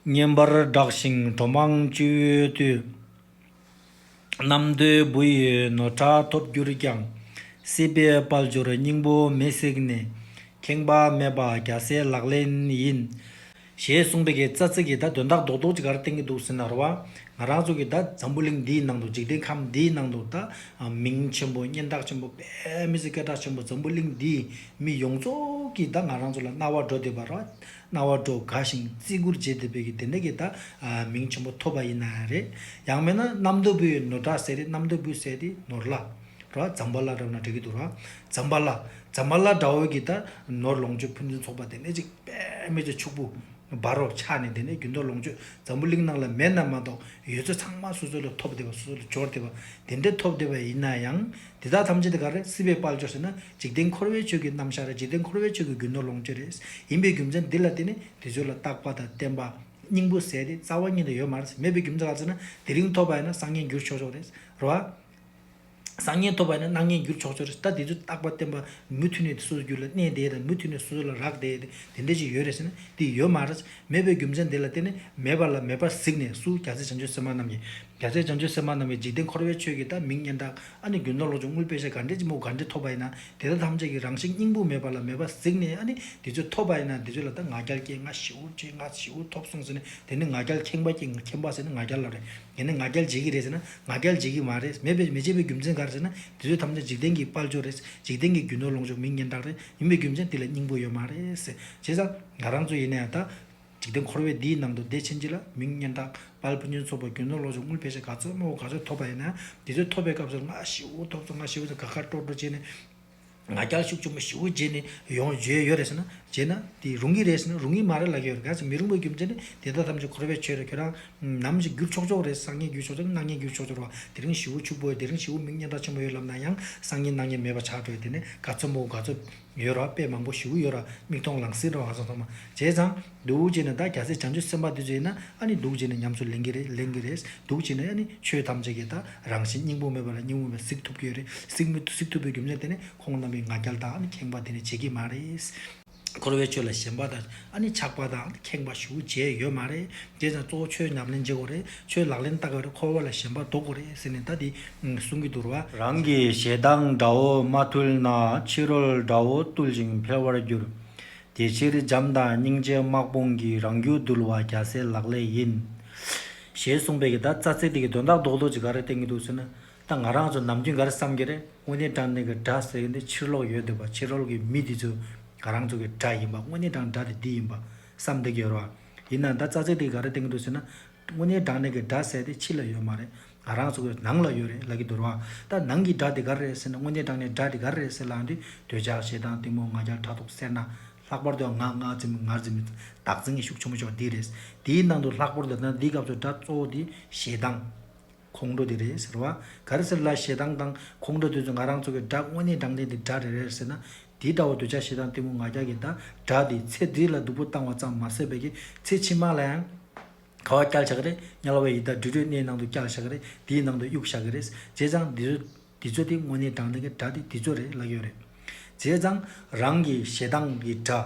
བསྙེན་པར་བསྒྲགས་ཤིང་གྲོ་མང་བཅུད་བཏུལ། རྣམ་ཐོས་བུ་ཡི་ནོར་ཕྲ་ཐོབ་གྱུར་ཀྱང། སྲིད་པའི་དཔལ་འབྱོར་སྙིང་པོ་མེས་བསྲེགས་ནས། ཁེངས་པ་མེད་པ་རྒྱ་སེ་ལག་ལེན་ཡིན། ཞེས་གསུངས་འདི་གའི་རྩ་ཚིག་གི་བརྡ་དོན་དག་རྡོག་རྡོག་ཅིག་གར་བསྟན་གྱི་འདུག་ཟིན་ནར་བ། ང་རང་ཚོ་གི་ད་འཛམ་བུ་གླིང་འདིའི་ནང་དུ་འཇིག་རྟེན་ཁམས་འདིའི་ནང་དུ་ད་མིང་ཆེན་པོ་སྙན་གྲགས་ཆེན་པོ་པདྨི་སི་སྐད་གྲགས་ཆེན་པོ་འཛམ་བུ་གླིང་འདིའི་མི་ཡོངས་རྫོགས་ཀྱིས་ད་ང་རང་ཚོ་ལ་རྣ་བ་འགྲོ་བསྡད་པ་ར་རྣ་བ་སྒྲོ་ག་ཞིང་བརྩི་བཀུར་བྱས་ཏེ་བོད་ཀྱི་བདེན་མཐའ་གྱི་ད་མིང་ཆེན་པོ་ཐོབ་པ་ཡིན་ན་རེད། ཡང་མེད་ན་གནམ་སྟོད་བུ་ཡི་ནོར་བྲག་ཟེར་ཏེ་གནམ་སྟོད་བུ་ཟེར་ཏེ་ནོར་བླ། ར། ཛམ་བྷ་ལ་བསྒྲགས་ན་འགྲིག་གི་འདུག་ར། ཛམ་བྷ་ལ། ཛམ་བྷ་ལ་བསྒྲགས་འོས་ཀྱི་ད་ནོར་ལོངས་སྤྱོད་ཕུན་ཚུན་ཚོགས་པ་དེ་ནས་ཅིག་པདྨའི་རྗེ་ཕྱུག་པོ། བ་རོ། ཕྱག་ནས་དེ་ནས་རྒྱུན་ཐོགས་ལོངས་སྤྱོད་འཛམ་བུ་གླིང་ནང་ལ་མེད་ན་མ་གཏོགས་ཡོད་ཚད་ཚང་མ་སོ་སོ་ལ་ཐོབ་བདེ་བ་སོ་སོ་ལ་སྦྱོར་བདེ་བ་དེ་འདྲ་ཐོབ་བདེ་བ་ཡིན་ན་ཡང། དེ་དག་ཐམས་ཅད་དེ་ག་རེད་སྲིད་པའི་དཔལ་འབྱོར་ཟེར་ན་འཇིག་རྟེན་འཁོར་བའི་ཆོས་ཀྱི་རྣམ་གཞག་རེད་འཇིག་རྟེན་འཁོར་བའི་ཆོས་ཀྱི་རྒྱུ་ནོར་ལོངས་སྤྱོད་རེད་ཡིན་པའི་རྒྱུ་མཚན་འདི་ལ་བརྟེན་ནས་དེ་ཚོའི་ལ་རྟག་པ་དང་བརྟན་པ། སྙིང་པོ་ཟད་དེ་རྩ་བ་ཉིད་དུ་ཡོད་མ་རེད་མེད་པའི་རྒྱུ་མཚན་ག་ཚོད་ན་དེ་རིང་ཐོབ་པ་ཡིན་ན་སང་ཉིན་འགྱུར་ཆོག་ཆོག་རེད་རེད་བ། སང་ཉིན་ཐོབ་པ་ཡིན་ན་གནངས་ཉིན་འགྱུར་ཆོག་ཆོག་རེད་ད་དེ་ཚོའི་རྟག་པ་བརྟན་པ་མུ་མཐུད་ནས་སོ་སོའི་རྒྱུད་ལ་གནས་བསྡད་དང་མུ་མཐུད་ནས་སོ་སོ་ལ་རག་བསྡད་དེ་འདྲ་ཅིག་ཡོད་རེད་ཟེར་ན་དེ་ཡོད་མ་རེད་མེད་པའི་རྒྱུ་མཚན་དེ་ལ་བརྟེན་ནས་མེད་པ་ལ་མེད་པར་གཟིགས་ནས་སུ་རྒྱ་ཚད་བྱང་ཆུབ་སེམས་དཔའ་རྣམས་ཀྱིས། རྒྱ་ཚད་བྱང་ཆུབ་སེམས་དཔའ་རྣམས་ཀྱིས་འཇིག་རྟེན་འཁོར་བའི་ཆོས་ཀྱི་བདག་མིང་སྙན་གྲགས་ཨ་ནི་རྒྱུན་ལྡོག་ལོག་ཆུང་ངུའི་དཔེ་ཆ་ག་འདྲའི་ལྕི་མོ་ག་འདྲས་ཐོབ་པ་ཡིན་ན་དེ་དག་ཐམས་ཅད་ཀྱི་རང་བཞིན་སྙིང་པོ་མེད་པ་ལ་མེད་པར་གཟིགས་ནས་ཨ་ནི་དེ་ཚོས་ཐོབ་པ་ཡིན་ན་དེ་ཚོས་ལ་ད་ང་རྒྱལ་སྐྱེས་ང་བྱིའུ་སྐྱེས་ང་བྱིའུ་ཐོབ་གསུངས་ཟེར་ནས་དེ་ནི་ང་རྒྱལ་ཁེངས་པ་སྐྱེས་ང་ཁེངས་པ་ཟེར་ནས་ང་རྒྱལ་ལ་རེད་ཡིན་ནའི་ང་རྒྱལ་བྱེད་ཀྱི་རེད་ཟེར་ན་ང་རྒྱལ་བྱེད་ཀྱི་མ་རེད་མེད་པའི་མི་བྱེད་པའི་རྒྱུ་མཚན་ག་རེ་ཟེར་ན་དེ་ཚོས་ཐམས་ཅད་འཇིག་རྟེན་གྱི་དཔལ་འབྱོར་རེད་འཇིག་རྟེན་གྱི་རྒྱུན་ལྡོག་ལོག་ཆུང་མིང་སྙན་གྲགས་རེད་ཡིན་པའི་རྒྱུ་མཚན་དེ་ལ་སྙིང་པོ་ཡོད་མ་རེད་ཟེར་བྱས་ཙང། ང་རང་ཚོ་ཡིན་ན་ཡང་ད། འཇིག་རྟེན་འཁོར་བའི་འདིའི་ནང་དུ་བདེ་ཆེན་གྱི་ལ་མིང་སྙན་གྲགས། དཔལ་ཕུན་ཆེན་ཚོགས་པ་རྒྱུ་ནོར་ལོ་ཆུང་དངུལ་ཕལ་ཆེར་ག་ཚོད་དམའ་བོ་ག་ཚོད་ཐོབ་པ་ཡིན་ན་ཡང་དེ་ཚོད་ཐོབ་པའི་སྐབས་སུ་ང་ཤི་བོ་ཐོབ་ཚོ་ང་ཤི་བོ་ཚོ་དགའ་དགའ་སྤྲོ་སྤྲོ་བྱས་ནས། ང་རྒྱལ་ཤུགས་ཆེན་པོ་ཤི་བོ་བྱས་ནས་ཡོང་བརྗོད་ཡོད་རེད་ཟེར་ན། བྱས་ན། དེ་རུང་གི་རེད་ཟེར་ན་རུང་གི་མ་རེད་ལབ་ཀྱི་ཡོད་རེད་ག་ཚོད་མི་རུང་པའི་རྒྱུ་མཚན་ནི་དེ་དག་ཐམས་ཅད་འཁོར་བའི་ཆོས་རེད་ཁྱོད་རང། ནམ་ཞིག་འགྱུར་ཆོག་ཆོག་རེད་སང་ཉིན་འགྱུར་ཆོག་ཆོག་གི་སྣང་བརྙན་འགྱུར་ཆོག་ཆོག་རེད་བ། དེ་རིང་ཤི་བོ་ཕྱུག་པོ་ཡོད་དེ་རིང་ཤི་བོ་མིང་སྙན་གྲགས་ཆེན་པོ་ཡོད་ལབ་ན་ཡང་སང་ཉིན་སྣང་བརྙན་མེད་པ་ཆགས་འགྲོ་ཡོད་དེ་ནས་ག་ཚོད་དམའ་བོ་ག་ཚོད། ཡོད་ར་དཔེ་མང་པོ་བཞུགས་ཀྱི་ཡོད་ར་མིག་མཐོང་ལང་སིད་འགྲོ་ང་ཚོ་ཚང་མ་བྱས་ཙང་སྡུག་བྱས་ནས་ད་རྒྱ་སེ་བྱང་ཆུ་སེམས་པ་དུས་ཚོད་ཡིན་ན་ཨ་ནི་སྡུག་བྱས་ནས་ཉམས་སུ་ལེན་གི་རེད་ལེན་གི་རེད་སྡུག་བྱས་ནས་ཨ་ནི་ཆོས་ཐམས་ཅད་ཀྱི་ད་རང་བཞིན་སྙིང་པོ་མེད་པ་ལ་སྙིང་བོ་མེད་གཟིགས་ཐུབ་ཀྱི་ཡོད་རེད་གཟིགས་མི་གཟིགས་ཐུབ་པའི་རྒྱུ་མཚན་དེ་ནི་ཁོང་རྣམ་པའི་ང་རྒྱལ་དང་ཨ་ནི་ཁེངས་པ་དེ་ནི་བྱེད་ཀྱི་མ་རེད། འཁོར་བའི་ཆོས་ལ་ཞེན་པ་དང་ཨ་ནི་ཆགས་པ་དང་ཁེངས་པ་ཞུ་བྱས་ཡོད་མ་རེད་དེ་ཙང་གཙོ་བོ་ཆོས་ཉམས་ལེན་བྱེད་དགོས་རེད་ཆོས་ལག་ལེན་བསྟར་དགོས་རེད་འཁོར་བ་ལ་ཞེན་པ་ཟློག་དགོས་རེད་ཟེར་ནས་ད་དེ་གསུང་གི་འདུག་ར། རང་གི་ཞེ་སྡང་དགྲ་བོ་མ་ཐུལ་ན་ཕྱི་རོལ་དགྲ་བོ་བཏུལ་ཞིང་འཕེལ་བར་འགྱུར། དེ་ཕྱིར་འཇམ་དང་སྙིང་རྗེ་དམག་དཔུང་གིས་རང་རྒྱུད་བསྡུལ་བ་རྒྱ་སེ་ལག་ལས་ཡིན། ཞེས་གསུངས་པའི་གི་ད་རྩ་ཚིག་དེ་གི་དོན་དག་རྡོག་རྡོག་ཅིག་ག་རེ་བསྟན་གི་འདུག་ཟེར་ན། ད་ང་རང་ཚོ་ནམ་རྒྱུན་ག་རེ་བསམ་གི་རེད་དངོས་གནས་དྲང་གནས་ཀྱི་སྒྲ་ཟེར་གི་འདི་ཕྱིར་ལོག་ཡོད་འདུག་པ་ཕྱིར་ལོག་གི་མི་འདི་ཚོས་ང་རང་ཚོ་གི་སྒྲ་ཡིན་པ་དངོས་གནས་དྲང་སྒྲ་དེ་འདི་ཡིན་པ་བསམ་བསྡད་ཀྱི་ཡོད་རེད་བ། ཡིན་ནའང་ད་རྩ་ཚིག་འདི་ག་རེ་བསྟན་གྱི་འདུག་ཟེར་ན། དངོས་གནས་དྲང་གནས་ཀྱི་སྒྲ་ཟེར་དེ་ཕྱི་ལ་ཡོད་མ་རེད་ང་རང་ཚོ་གི་ནང་ལ་ཡོད་རེད་ལབ་ཀྱི་འདུག་རེད་བ། ད་ནང་གི་སྒྲ་དེ་ག་རེ་རེད་ཟེར་ན་དངོས་གནས་དྲང་གནས་སྒྲ་དེ་ག་རེ་རེད་ཟེར་ལའང་འདི་འདོད་ཆགས་ཞེ་སྡང་གཏི་མུག་ང་རྒྱལ་ཕྲག་དོག་སེར་སྣ། ལྷག་པར་དུ་ང་ངག་འཛིན་མི་ངར་འཛིན་མི་བདག་འཛིན་གྱི་ཤུགས་ཆེན་པོ་ཕྱོགས་འདི་རེད། འདིའི་ནང་དུ་ལྷག་པར་དུ་ད་ནང་འདིའི་སྐབས་སུ་སྒྲ་གཙོ་བོ་དེ་ཞེ་སྡང། ཁོང་ཁྲོ་དེ་རེད་ཟེར་བ་ག་རེ་ཟེར་ལ་ཞེ་སྡང་དང་ཁོང་ཁྲོ་དེ་ཚོ་ང་རང་ཚོ་གི་སྒྲ་དངོས་གནས་དྲང་བདེན་དེ་སྒྲ་རེ་རེད་ཟེར་ན་དེ་ལྟ་བུ་འདོད་ཆགས་ཞེ་སྡང་གཏི་མུག་ང་རྒྱལ་གྱི་འདྲ་སྒྲ་དེ་ཚེ་འདི་ལ་སྡུག་པོ་བཏང་བ་ཙམ་མ་ཟད་བོད་ཀྱི་ཚེ་ཕྱི་མ་ལ་ཡང་ག་བ་བསྐྱལ་བཞག་གི་རེད་དམྱལ་བའི་ཡི་དྭགས་དྲི་བྲོའི་སྣའི་ནང་དུ་བསྐྱལ་བཞག་གི་རེད་དེའི་ནང་དུ་གཡུགས་བཞག་གི་རེད་བྱས་ཙང་འདི་ཚོ་འདི་ཚོ་དེ་དངོས་གནས་དྲང་བདེན་གྱི་སྒྲ་དེ་འདི་ཚོ་རེད་ལབ་ཡོད་རེད། བྱས་ཙང་རང་གི་ཞེ་སྡང་གི་སྒྲ།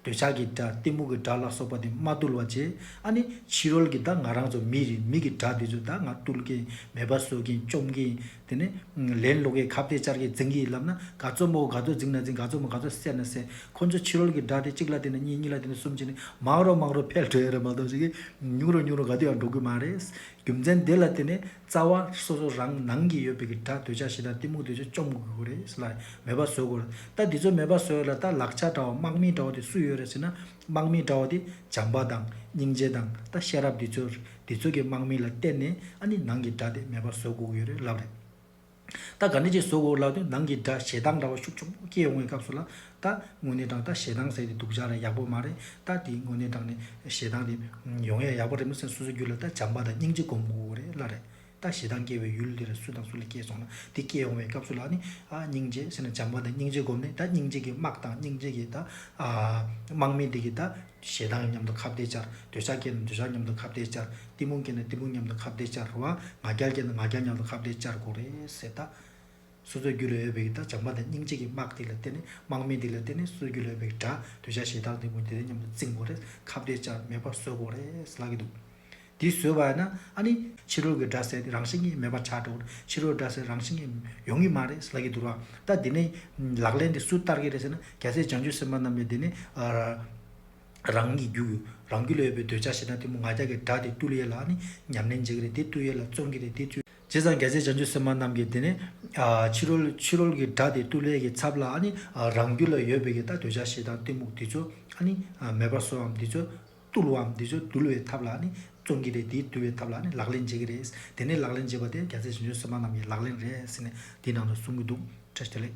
འདོད་ཆགས་ཀྱི་དགྲ་གཏི་མུག་གི་དགྲ་ལ་སོགས་པ་དེ་མ་བཏུལ་བ་ཅི་ཨ་ནི་ཕྱི་རོལ་གྱི་དག་ང་རང་ཚོ་མི་རེ་མིག་གི་དགྲ་དེ་ཚོ་དག་ང་བཏུལ་གིན་མེད་པ་ཟོས་གིན་བཅོམ་གིན་དེ་ནས་ལན་སློག་གིན་ཁ་བརྡའི་བཅར་གིན་འཛིང་གིན་ལབ་ན་ག་ཚོད་མོ་ག་ཚོད་འཛིང་ན་འཛིང་ག་ཚོད་མོ་ག་ཚོད་སད་ན་སད་ཁོ་ཚོ་ཕྱི་རོལ་གྱི་དགྲ་དེ་གཅིག་ལ་བལྟས་ན་གཉིས་གཉིས་ལ་བལྟས་ན་གསུམ་བྱས་ནས་མང་རུང་མང་རུང་ཕལ་བྲོ་ཡ་རེ་མ་གཏོགས་ཤིག་གིས་ཉུང་རུང་ཉུང་རུང་ག་དུས་ཡང་འགྲོ་གི་མ་རེད་རྒྱུ་མཚན་དེ་ལ་བརྟེན་ནས། རྩ་བ། སོ་སོ་རང་ནང་གི་ཡོད་པའི་གི་སྒྲ་འདོད་ཆགས་ཞེ་སྡང་གཏི་མུག་འདོད་ཆགས་བཅོམ་དགོས་གོ་རེད་ལ་མོས་པ་བཟོད་གོ་རེད་ད་འདི་ཚོ་མོས་པ་བཟོད་ལ་ད་ལག་ཆ་འདྲ་བ་དམག་མི་འདྲ་བ་དེ་སུ་ཡོད་རེད་ཟེར་ན་དམག་མི་འདྲ་བ་དེ་བྱམས་པ་དང་སྙིང་རྗེ་དང་ད་ཤེས་རབ་འདི་ཚོ་རེད་འདི་ཚོ་གི་དམག་མི་ལ་བསྟེན་ནས་ཨ་ནི་ནང་གི་སྒྲ་དེ་མོས་པ་བཟོད་དགོས་ཀྱི་ཡོད་རེད་ལབ་རེད། རྟ་ག་ནི་ཅེས་གཟུགས་འོག་བཀླགས་དུས་ནང་གི་སྒྲ་ཞེ་སྡང་འདྲ་བ་ཤུགས་ཆུང་པོ་སྐྱེས་འོང་བའི་སྐབས་སུ་ལ། རྟ། དངོས་གནས་དྲང་རྟ་ཞེ་སྡང་ཟེར་ཏེ་འདུག་བཞག་ར་ཡག་པོ་མ་རེད་རྟ་དེའི་དངོས་གནས་དྲང་ནས་ཞེ་སྡང་དེ། ཡོང་ཡ་ཡག་པོ་རེད་མོ་སེམས་སོ་སོའི་རྒྱུད་ལ་རྟ་བྱམས་པ་དང་སྙིང་རྗེ་སྒོམ་དགོས་པོ་རེད་གླ་རེད། རྟ་ཞེ་སྡང་སྐྱེ་བའི་ཡུལ་འདི་རུ་སུ་དང་སུ་ལ་སྐྱེས་སོང་ལ་དེ་སྐྱེས་འོང་བའི་སྐབས་སུ་ལ་ནི། སྙིང་རྗེ་ཟེར་ན་བྱམས་པ་དང་སྙིང་རྗེ་སྒོམ་ནས་ད་སྙིང་རྗེ་གི་དམག་དང་སྙིང་རྗེ་གི་ད། དམག་མི་འདི་གི་ད། ཞེ་སྡང་གིས་མཉམ་དུ་ཁ་བརྡས་བཅར། འདོད་ཆགས་སྐྱེས་ན་འདོད་ཆགས་མཉམ་དུ་ཁ་བརྡས་བཅར། གཏི་མུག་སྐྱེས་ན་གཏི་མུག་མཉམ་དུ་ཁ་བརྡས་བཅར་བ། ང་རྒྱལ་སྐྱེས་ན་ང་རྒྱལ་མཉམ་དུ་ཁ་བརྡས་བཅར་དགོས་རེད། ཟེར་ལྟ། སོ་སོའི་རྒྱུད་ལ་ཡོད་པའི་གི་ད་སྦྱངས་པ་དང་སྙིང་རྗེ་གི་དམག་དེ་ལ་བརྟེན་ནས་དམག་མི་དེ་ལ་བརྟེན་ནས་སོ་སོའི་རྒྱུད་ལ་ཡོད་པའི་གི་དགྲ་འདོད་ཆགས་ཞེ་སྡང་གཏི་མུག་དེ་དག་མཉམ་དུ་བཙིང་དགོས་རེད། ཁ་བརྡས་བཅར་མེད་པར་བཟོད་དགོས་རེད་ཟེར་ལབ་ཀྱི་འདུག། འདི་བཟོས་བ་ན་ཨ་ནི། ཕྱི་རོལ་གྱི་སྒྲ་ཟེར་རང་བཞིན་གྱིས་མེད་པར་ཆགས་འགྲོ་གི་རེད་ཕྱི་རོལ་སྒྲ་ཟེར་རང་བཞིན་གྱིས་ཡོང་གི་མ་རེད་ལགས་ཀྱི་འདུག་ར་ལྟ་འདི་ནི། ལག་ལེན་འདི་སུ་བསྟར་གྱི་རེད་ཟེར་ན་རྒྱ་བཟས་བྱང་ཆུབ་སེམས་དཔའ་རྣམས་ལས་འདི་ནི། རང་གི་རྒྱུ། རང་རྒྱུད་ལས་ཡོད་པའི་འདོད་ཆགས་ཤེས་ན་དེ་མོ་ང་རྒྱལ་གྱི་སྒྲ་འདི་བཏུལ་ཡས་ལ་ཨ་ནི། ཉམས་ལེན་བྱེད་ཀྱི་རེད་འདི་བཏུལ་ཡས་ལ་བརྩོན་གྱི་རེད་འདི་བཅོས། བྱས་ཙང་རྒྱ་བཟས་བྱང་ཆུབ་སེམས་དཔའ་རྣམས་ཀྱིས་འདི་ནི། ཕྱི་རོལ་ཕྱི་རོལ་གྱི་སྒྲ་འདི་བཏུལ་ཡས་ཀྱི་ཚབ་ལ་ཨ་ནི། རང་རྒྱུད་ལ་ཡོད་པའི་གྱི་ད་འདོད་ཆགས་ཤེས་དང་གཏི་མུག་འདི་བཅོས་ཨ་ནི། མེད་པར་བཟོའམ་འདི་བཅོས། བཏུལ་བའམ་འདི་ཚོ་བཏུལ་བའི་ཐབས་ལ་ནི་བརྩོན་གྱི་རེད་དེ་བཏུལ་བའི་ཐབས་ལ་ནི་ལག་ལེན་བྱེད་ཀྱི་རེད། དེ་ནས་ལག་ལེན་བྱེད་པ་དེ་རྒྱ་ཚད་ཞིབ་འཇུག་སེམས་དཔའ་རྣམས་ཀྱི་ལག་ལེན་རེད་ཟེར་ནས་འདིའི་ནང་དུ་གསུང་གི་འདུག་བཀྲ་ཤིས་བདེ་ལེགས།